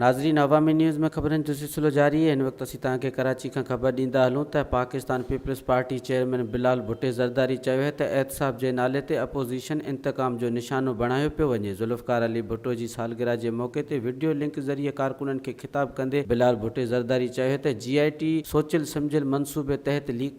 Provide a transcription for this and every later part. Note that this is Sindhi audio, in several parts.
ناظرين عوامي نيوز ۾ خبرن جو سلسلو جاري هن وقت اسين توهان کي ڪراچي کان خبر ڏيندا هلون ته Pakistan peoples party chairman Bilal Bhutto Zardari چيو هي ته احتساب جي نالي تي اپوزيشن انتقام جو نشانو بڻايو پيو وڃي ذوالفقار علي ڀٽو جي سالگره جي موقعي تي وڊيو لنڪ ذريعي ڪارڪنن کي خطاب ڪندي بلال ڀٽي زرداري چيو هي ته جي آء ٽي سوچيل سمجهيل منصوبي تحت ليڪ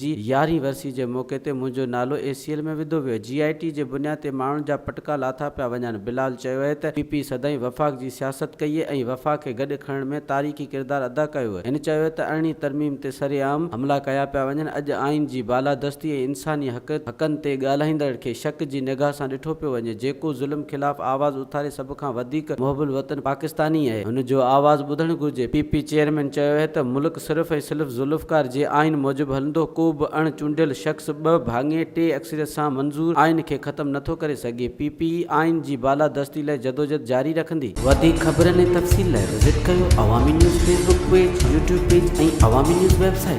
جي يارهين ورسي جي موقعي تي منهنجو نالو اي سي ايل ۾ وڌو ويو، جي آء ٽي جي بنياد تي ماڻهن جا پٽڪا لاٿا پيا وڃن، بلال چيو اهي ته پي پي سدائين وفاق جي سياست ڪئي اهي ۽ وفاق کي گڏ کڻڻ ۾ تاريخي ڪردار ادا ڪيو اهي، هن چيو اهي ته ارڙهين ترميم تي سرعام حملا ڪيا پيا وڃن، اڄ آئين جي بالادستي ۽ انساني حق حقن تي ڳالهائيندڙن کي شڪ جي نگاهه سان ڏٺو پيو وڃي، جيڪو ظلم خلاف آواز اٿاري سڀ کان وڌيڪ محب الوطن پاڪستاني اهي، هن جو آواز ٻڌڻ گهرجي، پي پي چيئرمين چيو اهي ته ملڪ. صرف ۽ صرف ذوالفقار جي آئين موجب هلندو، ڪو به اڻ چونڊيل شخص ٻه ڀاڱي ٽي اڪثريت سان منظور آئين کي ختم نه ٿو ڪري سگهي، پي پي آئين جي بالادستي لاء جدوجھد جاري رکندي. وڌيڪ خبرن ۽ تفصيل لاء وزٽ ڪريو Awami news Facebook page, YouTube page ۽ Awami news web site.